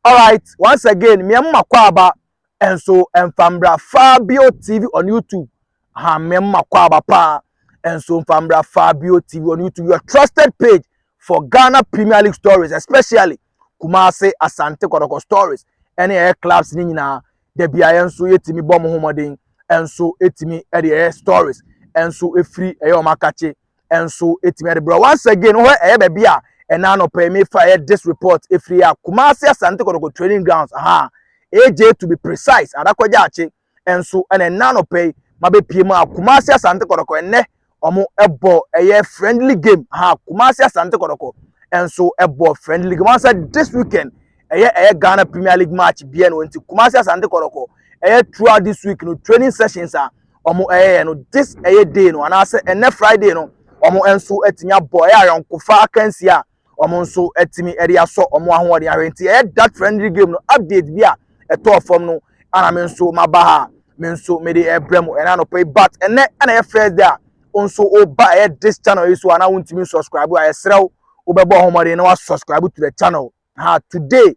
Alright, once again, mmea mu makwaaba nso mfa mbra Fabio TV on YouTube. Ha mmea mu makwaaba paa nso mfa mbra Fabio TV on YouTube. Your trusted page for Ghana Premier League stories, especially Kumasi Asante Kotoko stories. Ɛne ɛyɛ clubs ne nyinaa. Da biara nso yɛtumi bɔ mo ho mmɔden nso ɛtumi ɛde ɛyɛ stories nso ɛfiri ɛyɛ ɔmo akakye nso ɛtumi de berɛ once again hɔ ɛyɛ baabi a ɛna anɔpa yi mefa ɛyɛ this report ɛfiri yɛ a Kumasi Asante Kɔtɔkɔ training grounds aha AJ to be precise adakɔgya akye nso ɛna ɛna anɔpa yi mabɛpie mu a Kumasi Asante Kɔtɔkɔ ɛnɛ wɔn ɛbɔ ɛyɛ friendly game ha Kumasi Asante Kɔtɔkɔ nso ɛbɔ friendly game wɔn sɛ this weekend ɛyɛ ɛyɛ ghana premier league match bia no nti kumasi asante kɔrɔkɔ ɛyɛ throughout this week no training sessions a wɔn ɛyɛ no this ɛyɛ day no anaasɛ ɛnɛ friday no wɔn nso atumi abɔ ɛyɛ ayɔnkofa akansi a wɔn nso atumi ɛde asɔ wɔn ahoɔden ahwɛ nti ɛyɛ that friendly game no update bi a ɛtɔɔ fam no ana me nso maba ha me nso mede ɛbrɛ mu ɛna anɔpɛ yi but ɛnɛ ɛna ɛyɛ first day a wɔn nso ɔba ɛyɛ this channel yi so a na wɔntumi subscribe a ɛsrɛ wo wobɛbɔ ɔhomɔden na wasubscribe to the channel ha today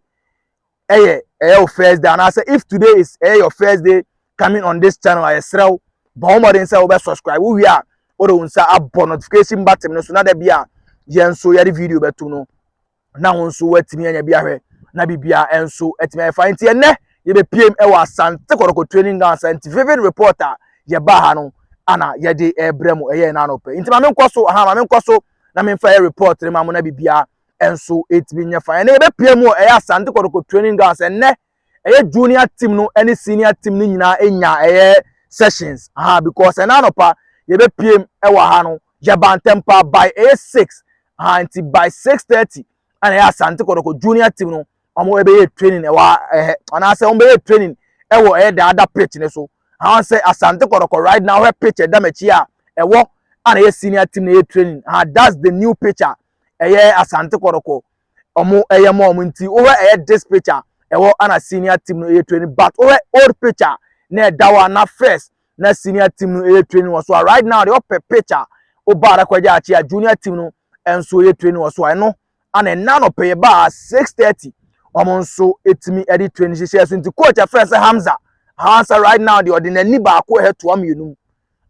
ɛyɛ ɛyɛ wo first day anaasɛ if today is ɛyɛ your first day coming on this channel a yɛsrɛ wo bɔ wo mmɔden sɛ wobɛ subscribe wowie a wode wo nsa abɔ notification button no so na da bi a yɛn nso yɛde video bɛto no na wo nso woatumi anya bi ahwɛ na biribiara nso atumi ayɛ fa nti ɛnɛ yɛbɛpiem ɛwɔ asante kɔrɔkɔ training ground sɛ nti vivid report a yɛbaa ha no ana yɛde ɛbrɛ mu ɛyɛ na anɔpɛ nti ma menkɔ so aha ma menkɔ so na memfa yɛ report no ma mo na biribiara nso ɛtumi nyɛ fan ɛnɛ yɛbɛpia mu ɛyɛ asante kɔtɔkɔ training grounds ɛnɛ ɛyɛ junior team no ɛne senior team no nyinaa ɛnya ɛyɛ sessions aha because ɛnɛ anɔpa yɛbɛpia mu ɛwɔ ha no yɛba ntɛm paa by ɛyɛ six aha nti by six thirty ɛna ɛyɛ asante kɔtɔkɔ junior team no wɔn ɛbɛyɛ training ɛwɔ ɛhɛ anaasɛ wɔn bɛyɛ training ɛwɔ ɛyɛ daada pitch ne so aha sɛ asante kɔtɔkɔ right now hɛ pitch ɛdam akyi a ɛwɔ ɛna ɛyɛ senior team na ɛyɛ training aha that's the new picture. ɛyɛ Asante Kɔtɔkɔ ɔmo ɛyɛ ma ɔmo nti wohwɛ ɛyɛ this picture ɛwɔ ana senior team no ɛyɛ training but wohwɛ old picture na ɛda hɔ a na first na senior team no ɛyɛ training wɔ so a right now deɛ ɔpɛ picture woba ara kɔgye akye a junior team no nso ɛyɛ training wɔ so a ɛno ana ɛna no pɛyɛ baa six thirty wɔn nso ɛtumi ɛde training hyehyɛ so nti coach ɛfrɛ sɛ Hamza Hamza right now deɛ ɔde n'ani baako ɛhɛ toa mmienu mu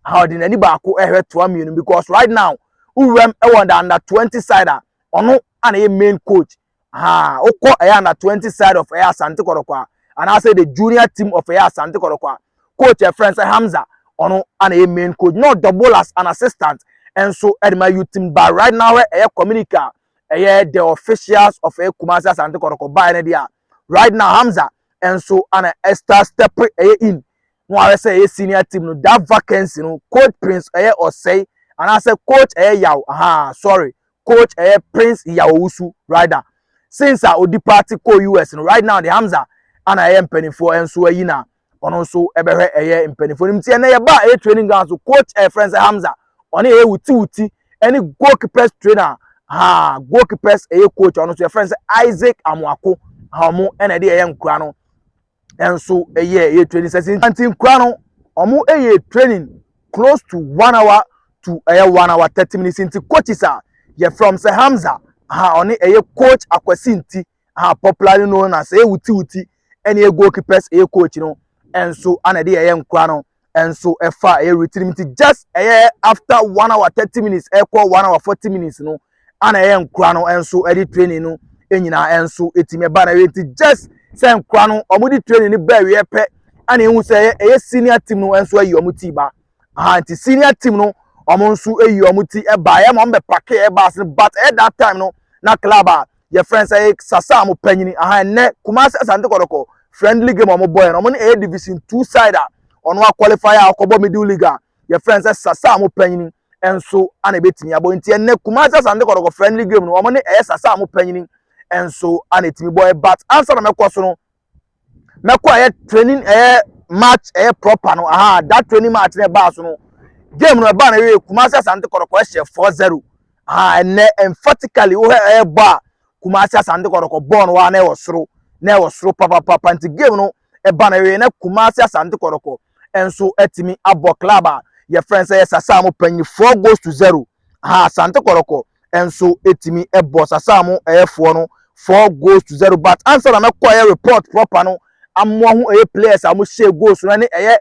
a ɔde n'ani baako ɛhwɛ toa mmienu because right now wowuram ɛwɔ the under twenty side a ɔno ana yɛ main coach ha wokɔ ɛyɛ under twenty side of ɛyɛ asante kɔrɔkɔ a anaasɛ the junior team of ɛyɛ asante kɔrɔkɔ a coach ɛfrɛ nsɛ hamza ɔno ana yɛ main coach na ɔdɔ bowlers an assistant ɛnso ɛde ma youth team but right now ɛyɛ community a ɛyɛ the officials of ɛyɛ kumasi asante kɔrɔkɔ baa ɛne deɛ right now hamza ɛnso ana ɛsta step ɛyɛ in ho ara sɛ ɛyɛ senior team no that vacancy no coach prince ɛyɛ ɔsɛe anaasɛ coach ɛyɛ yaw ahaa sorry coach ɛyɛ prince yaw owusu rider since a odi party kɔ us no right now de hamza ana ɛyɛ mpanimfoɔ nso ayi na ɔno nso ɛbɛhwɛ ɛyɛ mpanimfoɔ no mu ti ɛnɛ yɛba ɛyɛ training ground so coach ɛyɛ friends hamza ɔne ɛyɛ wuti wuti ɛne goalkeepers trainer ha goalkeepers ɛyɛ coach ɔno nso yɛ friends isaac amuako ha ɔmo ɛna ɛde ɛyɛ nkura no nso yɛ yɛ training session nti nkura no wɔn yɛ training close to one hour to ɛyɛ one hour thirty minutes nti coaches a yɛ from sɛ hamza aha ɔne ɛyɛ coach akwasi nti aha popularly known as ɛyɛ wuti wuti ɛne yɛ goalkeepers ɛyɛ coach no nso ana ɛde yɛ yɛ nkura no. nso fa ɛyɛ routine nti just ɛyɛ after one hour thirty minutes ɛkɔ one hour forty minutes no ana ɛyɛ nkora no nso ɛde training no nyinaa nso ɛtumi ɛba na ɛyɛ nti just sɛ nkora no wɔde training no bɛɛ wiɛ pɛ ana ehu sɛ ɛyɛ ɛyɛ senior team no nso ayi wɔn ti ba aha nti senior team no wɔn nso ayi wɔn ti ɛba ɛyɛ ma wɔn bɛ pake ɛba ase but ɛyɛ that time no na club a yɛfrɛ no sɛ sasa a wɔpanyini aha ɛnɛ kumase asante kɔdɔkɔ friendly game a wɔbɔ yɛn wɔn ɛyɛ division two side a wɔn akwalify a wɔkɔbɔ middle league a yɛfrɛ no sɛ sasa a wɔpanyini nso ana ebetumi abɔ nti ɛnɛ kumase asante kɔdɔkɔ friendly game no wɔn ɛyɛ sasa a wɔpanyini nso ana etumi bɔ ɛbat ansa na mɛkɔ so no mɛkɔ ɛyɛ training ɛyɛ match ɛyɛ proper no aha that training match na ɛbaa so no game no ɛbaa na ɛyɛ kumasi asante kɔrɔkɔ ɛhyɛ four zero aha ɛnɛ emphatically wohɛ ɛyɛ bɔ a kumasi asante kɔrɔkɔ bɔɔl no wa na ɛwɔ soro na ɛwɔ soro papapapa nti game no ɛbaa na ɛyɛ na kumasi asante kɔrɔkɔ ɛnso ɛtumi abɔ club a yɛfrɛ sɛ yɛ sasa mo panyin four goals to zero aha asante kɔrɔkɔ nso tumi bɔ sasaa mo ɛyɛfoɔ no four goals to zero but ansa na mɛkɔ ɛyɛ report proper no amoa ho ɛyɛ players a wɔhyɛ goals no ɛne ɛyɛ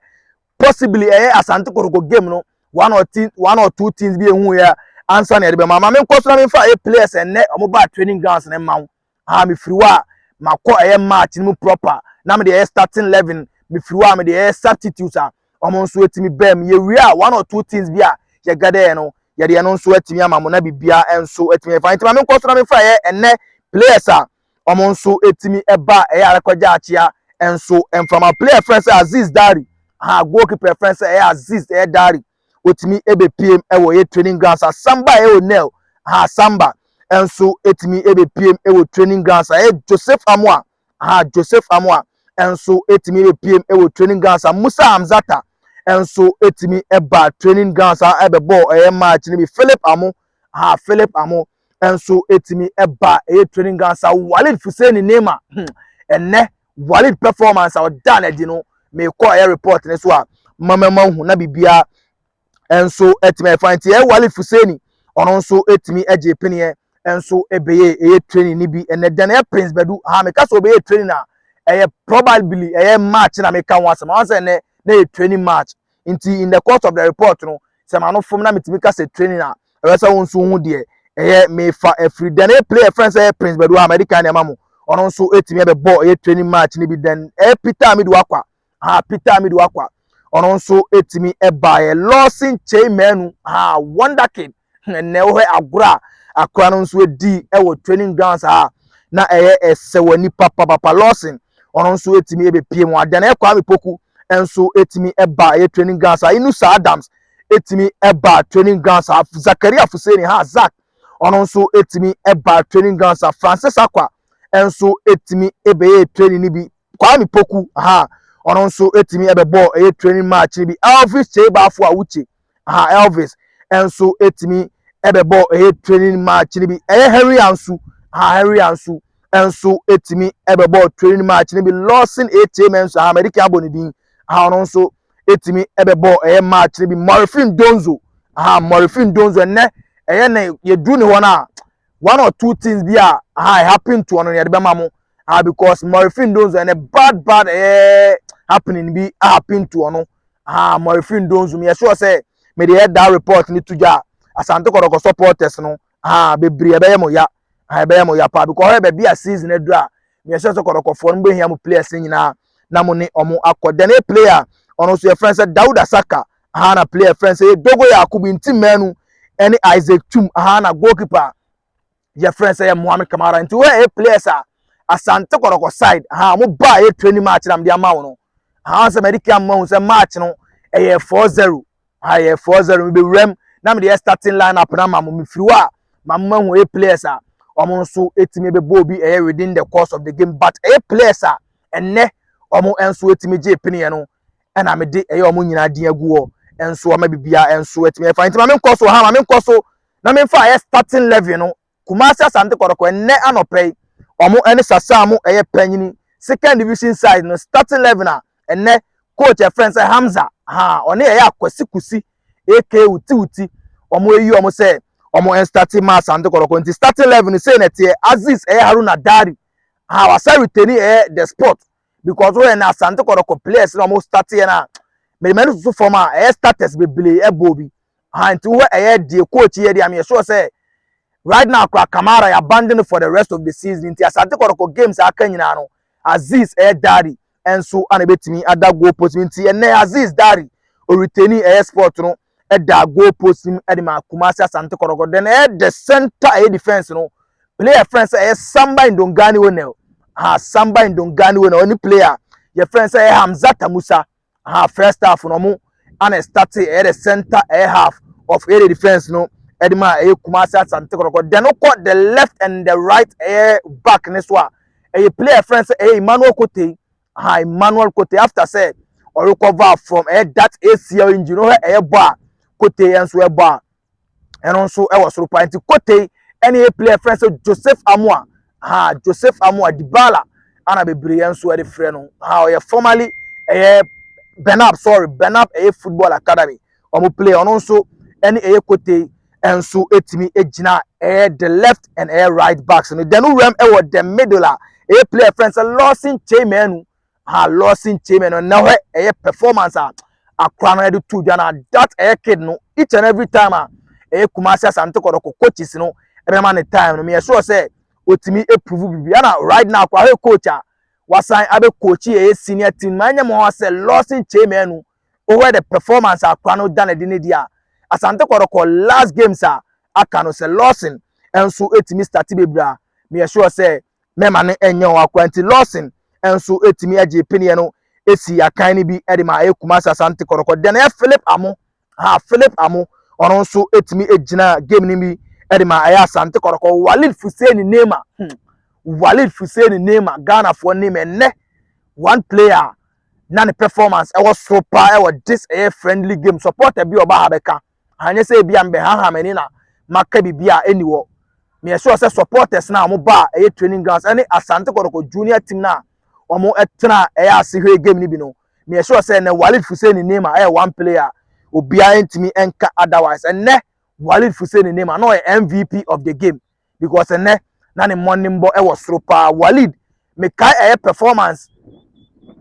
possibly ɛyɛ asante kotoko game no one or two one or two teams bi ehu yɛ ansa na yɛde bɛma maame nkɔ so na mefa ɛyɛ players ɛnɛ wɔn ba training grounds ne mma ho. a mefiri hɔ a makɔ ɛyɛ march no mu proper na mede ɛyɛ starting eleven mefiri hɔ a mede ɛyɛ substitute a wɔn nso atumi bɛɛ mu yɛwie a one or two things bi a yɛgɛdɛɛ no yɛde ɛno nso atumi ama mo na bibia nso atumi ɛfa nti ma me nkɔ so na mefa ɛyɛ ɛnɛ players a wɔn nso atumi ɛba ɛyɛ arekɔgya akyea nso mfama player fɛn sɛ aziz dari ha goalkeeper fɛn sɛ ɛyɛ aziz ɛyɛ dari otumi bepiem wɔ yɛ training grounds a samba a ɛwɔ nel ha samba nso etumi bepiem wɔ training grounds a ɛyɛ joseph amoa ha joseph amoa nso etumi bepiem wɔ training grounds a musa hamzata nso etumi ba training grounds a ɛbɛbɔ ɛyɛ match no bi philip amo ha philip amo nso etumi ba ɛyɛ training grounds a walid fuseni neema hmm, ɛnɛ Walid performance a ɔdaa no adi no mekɔ ɛyɛ report ne so a mama ma hu na biribiara nso atumi ayɛ fine nti ɛyɛ Walid Fuseni ɔno nso atumi agye peneɛ nso ɛbɛyɛ ɛyɛ training no bi ɛnɛ dɛn ɛyɛ Prince Badu ha meka sɛ ɔbɛyɛ training a ɛyɛ probably ɛyɛ match na meka ho asɛm ɔn sɛ ɛnɛ na ɛyɛ training match nti in the course of the report no sɛ ma no fom na metumi ka sɛ training a ɛwɛ sɛ wo nso ho deɛ ɛyɛ mefa afiri dɛn ɛyɛ player friend sɛ ɛyɛ prince bɛdo a mɛde kan nneɛma mo ɔno nso ɛtumi ɛbɛbɔ ɛyɛ training match no bi dɛn ɛyɛ peter amidu akwa ha peter amidu akwa ɔno nso ɛtumi ɛbaeɛ lawson kyei manu ha wonder kid Ɛnna wohwɛ agorɔ a akora no nso di wɔ training grounds a na ɛyɛ ɛsɛ wɔ nipa papapa lawson ɔno nso etumi ebepie mu adan ɛkɔ ami poku nso etumi ɛba ɛyɛ training grounds a inusa adams etumi ɛba training grounds a zakaria fuseni ha zak ɔno nso etumi ɛba training grounds a francis akwa nso etumi ebɛyɛ training ni bi Kwame Poku, aha, ɔno nso tumi bɛbɔɔ ɛyɛ training match no bi. Elvis Kyeibaafo a wokye, aha, Elvis nso tumi bɛbɔɔ ɛyɛ training match no bi. Ɛyɛ Henry Ansu, aha, Henry Ansu nso tumi bɛbɔɔ training match no bi. Lawson Etie Menso, aha, mɛde kan abɔ ne din, aha, ɔno nso tumi bɛbɔɔ ɛyɛ match no bi. Morifin Donzo, aha, Morifin Donzo ɛnɛ ɛyɛ ne yɛduru ne hɔ no a one or two things bi a aha, it happened to ɔno no yɛde bɛma mo. ah because mɔrefin donzo ɛnɛ bad bad ɛyɛ happening bi ahappen to ɔno ah mɔrefin donzo mi ɛsɛ ɔsɛ mi de yɛ da report ne to gya asante kɔdɔkɔ supporters no ah bebree ɛbɛyɛ mo ya ah ɛbɛyɛ mo ya paa because ɔyɛ baabi a season aduru a mi ɛsɛ ɔsɛ kɔdɔkɔfoɔ no bɛhia mo players nyinaa na mo ne ɔmo akɔ then a player ɔno nso yɛ fɛn sɛ dawuda saka ah na player fɛn sɛ yɛ dogo yɛ akobi nti mɛnu ɛne isaac tum ah na goalkeeper. yɛfrɛ sɛ yɛ moame kamara nti woyɛ yɛ players a asante kɔrɔkɔ side ha ɔmo ba a yɛ training match na mede ama wo no ha sɛ mɛde kia mma wo sɛ match no ɛyɛ 4-0 ha yɛ 4-0 mebɛwura mu na mede yɛ starting line up na ma mo mefiri hɔ a ma mo mahu yɛ players a ɔmo nso ɛtumi bɛbɔ obi ɛyɛ within the course of the game but ɛyɛ players a ɛnnɛ ɔmo nso ɛtumi gye piniɛ no ɛna mede ɛyɛ ɔmo nyinaa din agu hɔ nso ɔma bibia nso ɛtumi ɛfa nti ma menkɔ so ha ma menkɔ so na me nfa yɛ starting level no Kumasi Asante Kɔtɔkɔ ɛnnɛ anɔpa yi wɔn ɛne Sasamu ɛyɛ panyini second division side no starting level na ɛnnɛ coach ɛfrɛ no sɛ Hamza haa ɔne ɛyɛ Akwasi Kusi aka Wuti Wuti wɔn ayi wɔn sɛ wɔn ɛnstarting ma Asante Kɔtɔkɔ nti starting level no sei na ɛteɛ Aziz ɛyɛ Haruna Dari haa wasa reteni ɛyɛ the sport because woyɛ na asante kɔdɔkɔ players na wɔn start yɛ na mede mɛni susu fam a ɛyɛ starters bebree ɛbɔ obi ha nti wohɛ ɛyɛ die coach yɛ deɛ ameyɛ sure sɛ right now kora kamara yɛ abandon for the rest of the season nti asante kɔdɔkɔ games a aka nyinaa no aziz ɛyɛ dari ɛnso ana ebetumi ada goal post nti ɛnɛ aziz dari oritani ɛyɛ sport no da goal post mu de ma Kumasi Asante Kɔtɔkɔ. Then ɛyɛ the center ɛyɛ defense no player friend sɛ ɛyɛ Samba Indongani Onel. Ha Samba Indongani Onel ɔne player yɛ friend sɛ ɛyɛ Hamzata Musa. Ha first half no ɔmo ana start ɛyɛ the center ɛyɛ half of ɛyɛ the defense no ɛde ma ɛyɛ Kumasi Asante Kɔtɔkɔ. Then wokɔ the left and the right ɛyɛ back ne so a ɛyɛ player friend sɛ ɛyɛ Emmanuel Kotei. ha Emmanuel Kotey after sɛ ɔrecover from ɛyɛ that ACL injury no hɛ ɛyɛ bɔ a Kotey nso ɛbɔ a ɛno nso ɛwɔ soro paa nti Kotey ɛne yɛ player friend sɛ Joseph Amoa ha Joseph Amoa Dibala ana bebree yɛn nso ɛde frɛ no ha ɔyɛ formerly ɛyɛ Benab sorry Benab ɛyɛ football academy wɔn play ɔno nso ɛne ɛyɛ kote nso etumi egyina ɛyɛ the left and ɛyɛ right backs no dɛn wuram ɛwɔ the middle a ɛyɛ player fɛn sɛ lɔɔsin chairman no ha lɔɔsin chairman no na hɔ ɛyɛ performance a akora no ɛde tu dwa na that ɛyɛ kid no each and every time a ɛyɛ kumasi asante kɔdɔkɔ coaches no ɛbɛma ne time no meyɛ sure sɛ otumi eprove bibi ɛna right now akora hɔ coach a wasan abɛ coach ɛyɛ senior team maa nyɛ mo hɔ sɛ lɔɔsin chairman no. Wohwɛ the performance a akora no da no adi no deɛ a, Asante Kɔtɔkɔ last games a aka no sɛ Lawson nso tumi starte bebree a, meyɛ sure sɛ mɛma no nyɛ wɔn akora. Nti Lawson nso tumi gyee peneɛ no sii akan no bi de ma ɛyɛ Kumasi Asante Kɔtɔkɔ. Deɛ no yɛ Philip Amoo, ha Philip Amoo, ɔno nso tumi gyina game no bi de ma ɛyɛ Asante Kɔtɔkɔ. Walid Fuseni Neymar, hmm. Walid Fuseni Neymar, Ghanafoɔ Neymar, ɛnnɛ one player na ne performance ɛwɔ soro paa ɛwɔ this ɛyɛ friendly game supporter bi ɔba ha bɛka anyɛ sɛ ebi a mbɛhaha m'ani na maka biribi a ɛni wɔ meyɛ sure sɛ supporters na wɔn ba a ɛyɛ training grounds ɛne asante kɔtɔkɔ junior team na wɔn ɛtena ɛyɛ ase hwɛ game ni bi no meyɛ sure sɛ ɛnɛ walid fuseni nema ɛyɛ one player obiara ntumi ɛnka otherwise ɛnɛ walid fuseni nema na ɔyɛ mvp of the game because ɛnɛ na ne mmɔnemmɔ wɔ soro paa walid mekae ɛyɛ performance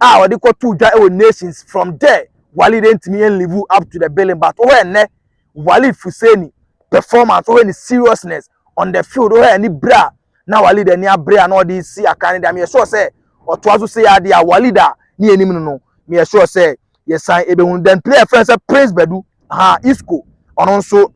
a ɔde kɔtoo dwa wɔ nations from there walid ntumi yɛn live up to the billing but wohɛ ɛnɛ walid fuseni performance wohɛ ne seriousness on the field wohɛ ani bere a na walid ani abere a na ɔde si akan ne deɛ meyɛ sure sɛ ɔtoa so sɛ yɛ adeɛ a walid a ne yɛ anim no no meyɛ sure sɛ yɛsan ebɛhunu then player fɛn sɛ prince badu ha isco ɔno nso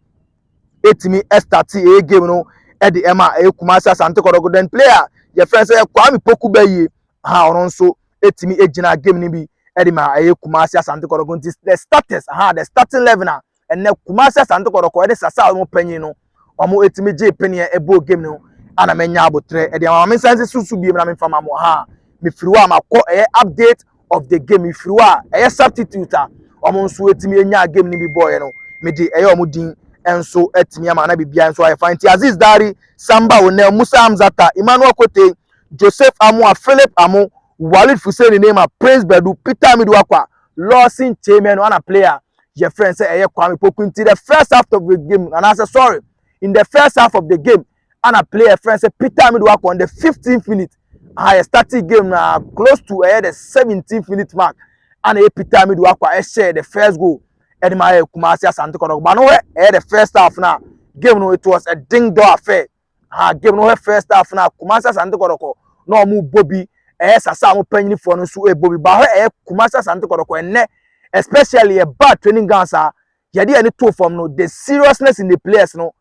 ɛtumi ɛstate ɛyɛ game no ɛde ɛma ɛyɛ Kumasi Asante Kɔtɔkɔ then player yɛfrɛ sɛ Kwame Poku Bɛyie ha ɔno nso ɛtumi ɛgyina game no bi ɛde ma ɛyɛ Kumasi Asante Kɔtɔkɔ nti the starters ha the starting eleven a ɛnɛ Kumasi Asante Kɔtɔkɔ ɛde sasa a wɔn panyin no wɔn ɛtumi gye paneɛ ɛbɔ game no ana mɛnya abotrɛ ɛde ama me nsa nsi susu biem na me nfa ma mo ha mefiri hɔ a makɔ ɛyɛ update of the game mfiri hɔ a ɛyɛ substitute a wɔn nso atumi anya game no bi bɔɔyɛ no mede ɛyɛ wɔn din nso atumi ama na biribiara nso ayɛ fa nti aziz dari samba onel musa hamzata emmanuel kote joseph amoa philip amo walid fuseni neymar prince bedu peter amidu akwa lawson chamber no ana player yɛfrɛ sɛ ɛyɛ kwame poku nti the first half of the game anaasɛ sorry in the first half of the game ana player friend say Peter Amidu Akon the 15th minute aha yɛ starting game na close to ɛyɛ the 17th minute mark ana yɛ Peter Amidu Akwa ɛhyɛ the first goal ɛde ma ayɛ Kumasi Asante Kɔtɔkɔ ba no hɛ ɛyɛ the first half na game no it was a ding dong affair aha game no hɛ first half na Kumasi Asante Kɔtɔkɔ na ɔmo bɔ bi ɛyɛ sasa a ɔmo panyinifoɔ no nso ɛbɔ bi ba hɛ ɛyɛ Kumasi Asante Kɔtɔkɔ ɛnɛ especially ɛba training ground saa yɛde yɛn to fam no the seriousness in the players no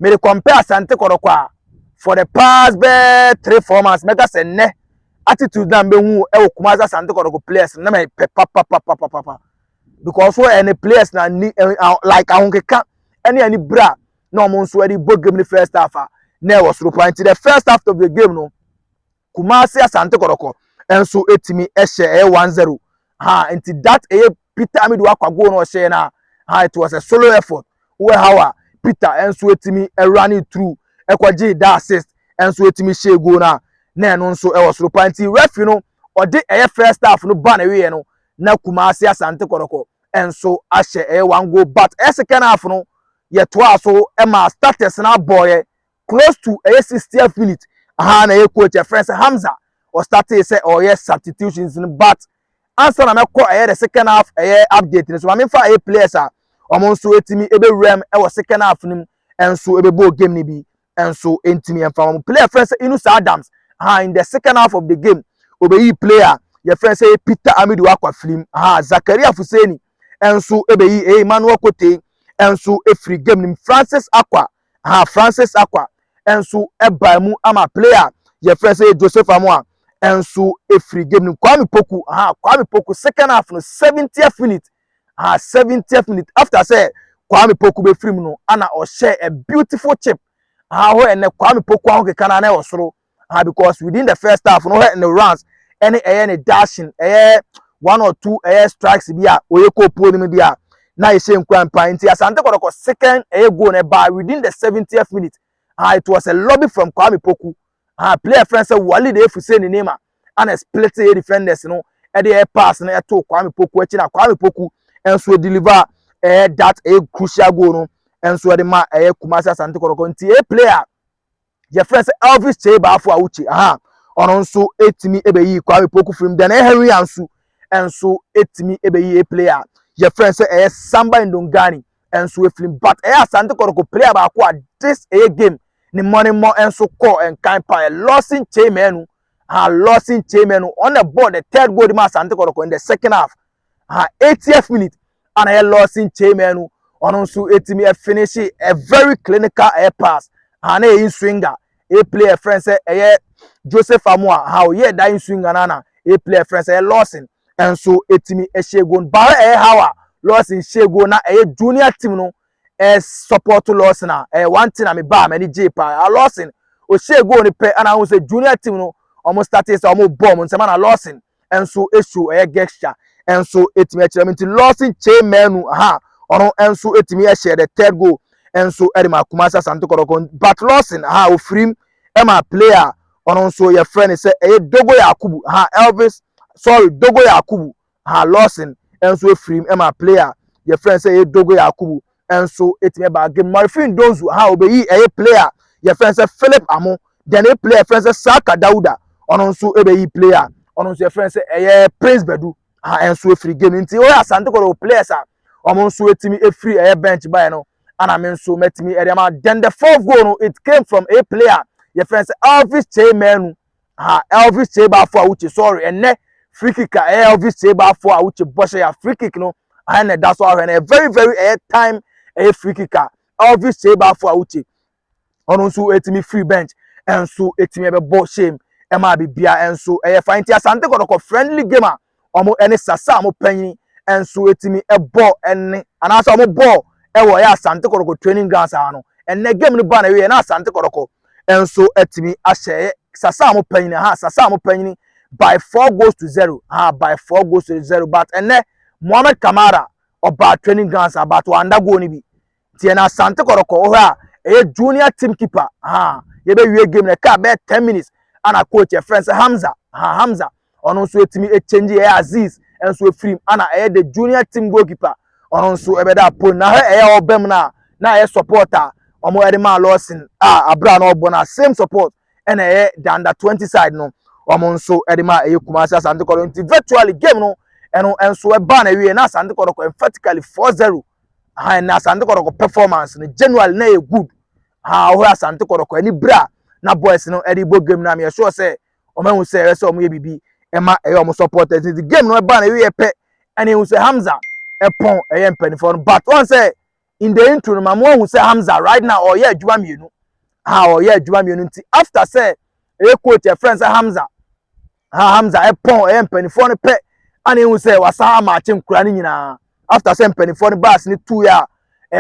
mede kɔmpɛ asante kɔrɔkɔ a for the past bɛɛ three four months mɛka sɛ nnɛ attitude na mbɛhu ɛwɔ kumase asante kɔrɔkɔ players na mɛ pɛ papapapapapa because so ɛne players na ni like ahonkeka ɛne ani bra na wɔn nso ɛde bɔ game ne first half a na ɛwɔ soro paa nti the first half of the game no Kumasi Asante Kɔtɔkɔ nso tumi hyɛ ɛyɛ one zero ha nti that ɛyɛ Peter Amidu Akwa goal na ɔhyɛɛ no a ha it was a solo effort wɔ how a Peter nso tumi ɛwura ne through ɛkɔgye da assist nso tumi hyɛɛ goal no a na ɛno nso ɛwɔ soro pa nti referee no ɔde ɛyɛ first half no ba na ɛwieɛ no na Kumasi Asante Kɔtɔkɔ nso ahyɛ ɛyɛ one goal but ɛyɛ second half no yɛtoaa so ma starters no abɔɔyɛ close to ɛyɛ sixtieth minute aha na ɛyɛ coach ɛfrɛ sɛ Hamza ɔstartee sɛ ɔyɛ substitutions no but ansa na mɛkɔ ɛyɛ the second half ɛyɛ update no so ma memfa ɛyɛ players a wɔn nso ɛtumi ɛbɛwura mu ɛwɔ second half no mu ɛnso ɛbɛbɔɔ game no bi ɛnso ɛntumi ɛmfa wɔn player ɛfrɛ sɛ Inus Adams aha in the second half of the game ɔbɛyi player yɛfrɛ sɛ Peter Amidu akwa firim aha Zakaria Fuseni ɛnso ɛbɛyi ɛyɛ Emmanuel Kotei ɛnso ɛfiri game no mu Francis Akwa Aha Francis Acquah nso bae mu ama player a yɛfrɛ sɛ Joseph Amoah nso firi game no mu. Kwame Poku, aha Kwame Poku second half no seventieth minute, aha seventieth minute after sɛ Kwame Poku bɛfiri mu no ana ɔhyɛ a beautiful chip, aha hɔ ɛnɛ Kwame Poku ahokeka no ara na ɛwɔ soro. ah because within the first half no hɛ ne runs ɛne ɛyɛ ne dashing ɛyɛ one or two ɛyɛ strikes bi a ɔyɛ kɔ pool no mu bi a na ɛhyɛ nkura mpa nti asante kɔtɔkɔ second ɛyɛ goal no ɛbaa within the seventieth minute ah it was a lobby from kwame poku ah player friend sɛ wali de efu se ne name a ana split ɛyɛ defenders no ɛde ɛyɛ pass no ɛto kwame poku akyi na kwame poku ɛnso deliver ɛyɛ that ɛyɛ crucial goal no ɛnso ɛde ma ɛyɛ kumasi asante kɔtɔkɔ nti ɛyɛ player. yɛfrɛ sɛ Elvis Kyei Baafo Awuchei aha ɔno nso etumi ebeyi Kwame Poku firim then ɛyɛ Henry Ansu nso etumi ebeyi a player yɛfrɛ sɛ ɛyɛ Samba Ndongani nso efirim but ɛyɛ Asante Kɔtɔkɔ player baako a this ɛyɛ game ne mmɔ ne mmɔ nso kɔɔ nkan paa Lawson Kyei Manu uh, Lawson Tseimeno, on the ball, the third goal ma Asante Kɔtɔkɔ in the second half. Uh, 80th minute, and ɛyɛ Lawson Tseimeno, ɔno nso ɛtumi ɛfinihye a very clinical air pass, uh, na ɛyi swinger, a player friend sɛ ɛyɛ Joseph Amoa, uh, ɔyɛ da in swinger na na a player friend sɛ ɛyɛ Lawson, ɛnso ɛtumi ɛhyɛ goal, baara ɛyɛ how a Lawson hyɛ goal na ɛyɛ junior team no, eh, support Lawson a ɛyɛ one thing a me baa m'ani gyee paa a Lawson ɔhyɛɛ goal no pɛ ana ahu sɛ junior team no wɔn startee sɛ wɔn bɔ wɔn nsɛm ana Lawson nso ɛsu ɛyɛ gesture nso ɛtumi akyerɛ me nti Lawson kyee mmaanu aha ɔno nso ɛtumi ɛhyɛ the third goal nso ɛde ma Kumasi Asante Kɔtɔkɔ but Lawson aha ɔfirim ɛma player ɔno nso yɛfrɛ no sɛ ɛyɛ Dogo Yakubu aha Elvis sorry Dogo Yakubu Haa Lawson nso afiri mu ma play a yɛfrɛ no sɛ ɛyɛ Dogo Yakubu nso tumi baa game. Marifin Ndonzu haa obeyii ɛyɛ play a yɛfrɛ no sɛ Philip Amo. Then ɛyɛ play a yɛfrɛ no sɛ Saka Dauda ɔno nso bɛyii play a ɔno nso yɛfrɛ no sɛ ɛyɛ Prince Badu haa nso afiri game. Nti wɔyɛ Asante Kotoko players a wɔn nso atumi afiri ɛyɛ bench baeɛ no ana me nso matumi ɛde ama. Then the fourth goal no it came from ɛyɛ play a yɛfrɛ no sɛ Elvis Kyei Manu ha Elvis Tsebaafo a wokyi sorry ɛnɛ free kick a ɛyɛ Elvis Tsebaafo a wokyi bɔhyɛ ya free kick no aha na ɛda so ahwɛ no ɛyɛ very very ɛyɛ time ɛyɛ free kick a Elvis Tsebaafo a wokyi ɔno nso etimi free bench ɛnso etimi ɛbɛbɔ shame ɛma bibia ɛnso ɛyɛ fa nti Asante Kɔtɔkɔ friendly game a wɔn ne Sasa a wɔpanyin nso tumi bɔ ne anaasɛ wɔn bɔ wɔ ɛyɛ Asante Kɔtɔkɔ training grounds ha no. Ɛnɛ game no ba na ɛwieɛ na Asante Kɔtɔkɔ nso atumi ahyɛ Sasa a wɔpanyin ha Sasa a wɔpanyin by four goals to zero ha by four goals to zero but ɛnɛ Mohammed Kamara ɔbaa training grounds ha but wanda goal no bi. Tiɛ na Asante Kɔrɔkɔ wɔ hɔ a ɛyɛ junior team keeper ahaa yɛbɛwie game no ɛkaa bɛyɛ ten minutes ana coach yɛfrɛ no sɛ Hamza ahaa Hamza ɔno nso ɛtumi ɛkyɛngye ɛyɛ Aziz nso ɛfirim ana ɛyɛ the junior team goalkeeper ɔno nso ɛbɛda apon na hɛ ɛyɛ ɔba mu no a na ɛyɛ support a wɔn ɛde maa Lawson a abira na ɔbɔ no a same support ɛna ɛyɛ the under twenty side no wɔn nso ɛde maa ɛyɛ Kumasi Asante Kɔrɔkɔ nti virtually game no ɛno nso ɛbaa na ɛwie na Asante Kɔrɔkɔ emphatically four zero. aha na asante kɔtɔkɔ performance no general na yɛ good aha ɔhɔ asante kɔtɔkɔ ani bra na boys no ɛde bɔ game no a meyɛ sure sɛ wɔn ahu sɛ ɛyɛ sɛ wɔn yɛ biribi ɛma ɛyɛ wɔn supporters nti game no ɛba na ɛyɛ pɛ ɛna ehu sɛ hamza ɛpɔn ɛyɛ mpanimfoɔ no but wɔn sɛ in the intro no ma mo ahu sɛ hamza right now ɔyɛ adwuma mmienu aha ɔyɛ adwuma mmienu nti after sɛ ɛyɛ coach ɛfrɛ sɛ hamza ha hamza ɛpɔn ɛyɛ mpanimfoɔ no pɛ a na ehu sɛ wasan amaakye nkura no nyinaa after sɛ mpanimfoɔ no baasi no tu yɛ a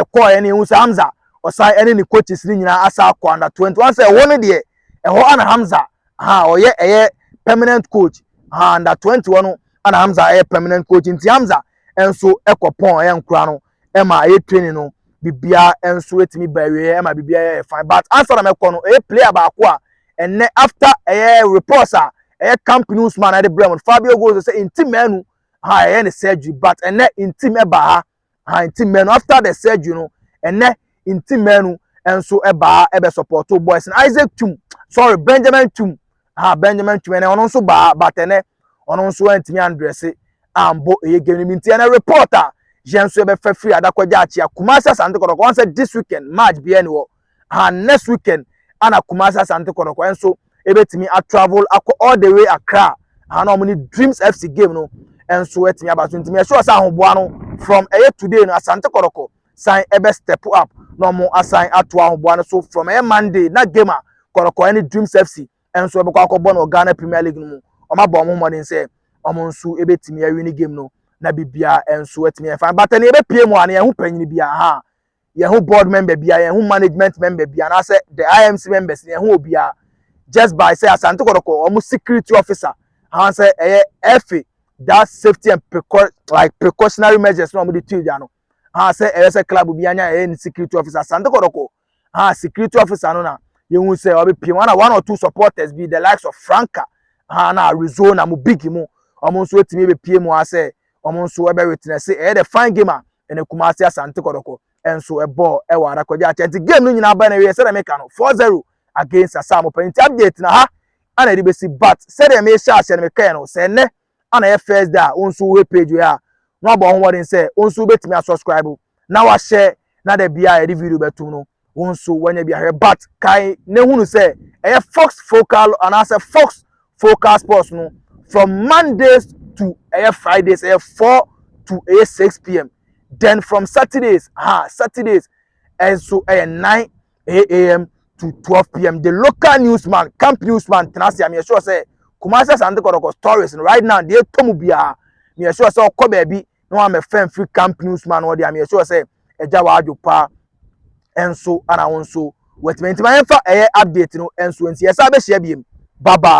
ɛkɔɔɛ no ehu sɛ hamza ɔsan ɛne ne coaches no nyinaa asa akɔ under twenty one sɛ ɛhɔ no deɛ ɛhɔ ana hamza ha ɔyɛ ɛyɛ permanent coach ha under twenty one no ana hamza ɛyɛ permanent coach nti hamza ɛnso ɛkɔ pɔn ɛyɛ nkura no. ɛma ayɛ training no biribiara nso atumi ba awieɛ ɛma biribiara yɛ fine but ansa na mɛkɔ no ɛyɛ player baako a ɛnɛ after ɛyɛ reports a ɛyɛ camp news man ɛde brɛ mu Fabio Gozo sɛ nti mɛnu ha ɛyɛ ne surgery but ɛnɛ nti mɛba ha ha nti mɛnu after the surgery no ɛnɛ nti mɛnu nso ɛba ha ɛbɛ support boys Isaac Tum sorry Benjamin Tum ha Benjamin Tum ɛnɛ ɔno nso ba ha but ɛnɛ ɔno nso antumi andrɛse ambɔ ɛyɛ game no mu nti ɛnɛ report a yɛn nso yɛbɛfa firi adakɔgya akyea kumase asante kɔtɔkɔ wɔn sɛ this weekend match biara ni hɔ ha next weekend ana kumase asante kɔtɔkɔ nso ebetumi atravel akɔ all the way akra ha na wɔn ne dreams fc game no nso atumi aba so ntumi ɛhyɛ ɔsɛ ahoboa no from ɛyɛ today no asante kɔtɔkɔ san ɛbɛ step up na wɔn asan ato ahoboa no so from ɛyɛ monday na game a kɔtɔkɔ ɛne dreams fc nso ɛbɛkɔ akɔbɔ no wɔ Ghana Premier League no mu. Wɔabɔ wɔn ho mmɔden sɛ wɔn nso ebetumi awini game no na biribiara nso atumi ayɛ fine. But ɛnna yɛbɛpie mu a na yɛn ho panyin biara ha, yɛn ho board member biara, yɛn ho management member biara, anaasɛ the IMC members, yɛn ho obiara just by sɛ Asante Kɔtɔkɔ wɔn security officer anaasɛ ɛyɛ ɛfe that safety and precau like precautionary measures na wɔn de tu gya no anaasɛ ɛyɛ sɛ club bi anya ɛyɛ ne security officer Asante Kɔtɔkɔ ah security officer no na yɛhu sɛ ɔbɛpiem ana one or two supporters bi the likes of franca ah na arizona mo big mu wɔn nso atumi bɛpie mu asɛ wɔn nso ɛbɛ witness ɛyɛ the fine game a ɛna kumase asante kɔdɔkɔ ɛnso ɛbɔɔ ɛwɔ arakɔgye akyɛ nti game no nyinaa bɛn na ɛyɛ sɛdeɛ meka no four zero against asamopa nti update na ha ana ɛde bɛsi but sɛdeɛ mehyɛ aseɛ no mekɛɛ no sɛ ɛnɛ a na ɛyɛ first day a wo nso wohwɛ page wei a na wabɔ ho mmɔden sɛ wo nso wobɛtumi asubscribe na wahyɛ na da bia a yɛde video bɛtom no wo nso wanya bi ahwɛ but kae na hunu sɛ ɛyɛ fox focal anaasɛ fox focal sports no from mondays to ɛyɛ fridays ɛyɛ 4 to ɛyɛ 6 pm then from saturdays ha saturdays ɛnso ɛyɛ 9 8am to 12pm the local newsman camp newsman tena ase a meyɛ sure sɛ kumase asante kɔdɔkɔ stories no right now deɛ ɛtɔ mu biara meyɛ sure sɛ ɔkɔ baabi na wɔn amɛfɛn firi camp newsman no deɛ meyɛ sure sɛ ɛgya wadwo paa ɛnso ana wɔn nso wɔatumi nti ma yɛnfa ɛyɛ update no ɛnso nti yɛsa abɛhyia biem bye bye.